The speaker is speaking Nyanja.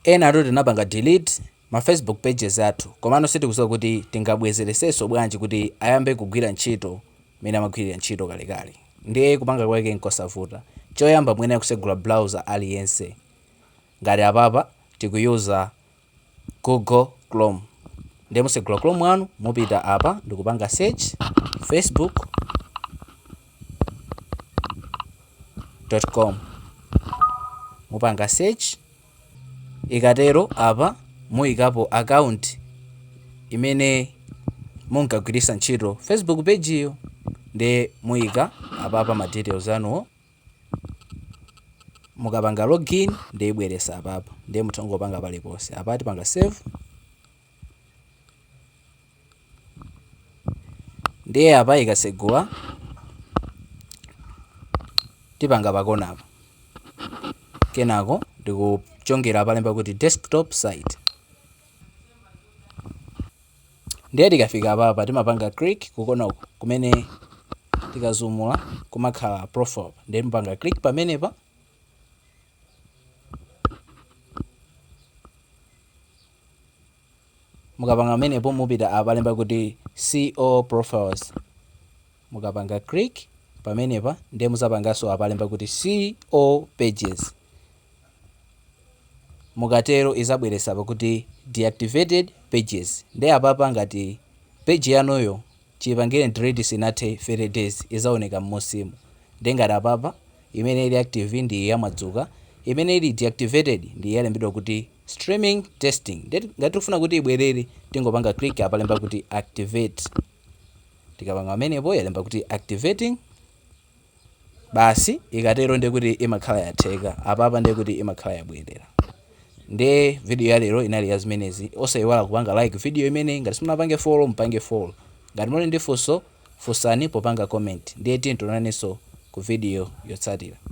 Enatu tinapanga delete ma Facebook pages athu komano sitikuziwa kuti tingabwezelesenso bwanji kuti ayambe kugwira ntchito mmene amagwilira ntchito kalekale ndiye kupanga kwake nkosavuta choyamba muyenera kusegula browser aliyense ngati apapa tikuyuza Google chrome ndiye musegula chrome wanu mupita apa ndikupanga search Facebook com mupanga search ikatero apa muyikapo account imene munkagwiritsa ntchito facebook page iyo ndiye muyika apapa ma details anuwo mukapanga login ndiye ibweresa apapa ndiye mutha kungopanga paliponse apa tipanga save ndiye apa ikasegula tipanga pakona apa kenako ndikuchongera palemba kuti desktop site ndiye tikafika apapa timapanga click kukona uku kumene tikazumula kumakhala profile ndiye timapanga click pamenepa Mukapanga pamenepo mupita apa palemba kuti see all profiles mukapanga click pamenepa ndiye muzapanganso apa palemba kuti see all pages mukatero izabweresa apa kuti deactivated pages ndiye apapa ngati page yanuyo Chipangireni delete isinathe 30 days izaoneka mmunsimu nde ngati apapa imene ili active ndi ya Mwadzuka imene ili deactivated ndi yalembedwa kuti streaming testing nde ngati tikufuna kuti ibwerere tingopanga click apa palemba kuti activate tikapanga pamenepo yalemba kuti activating basi ikatero ndiye kuti imakhala yatheka apapa ndiye kuti imakhala yabwerera ndiye video ya lero inali ya zimenezi osayiwala kupanga like video imeneyi ngati simunapange follow mpange follow ngati muli ndi funso funsani popanga comment ndiye tionanenso ku video yotsatira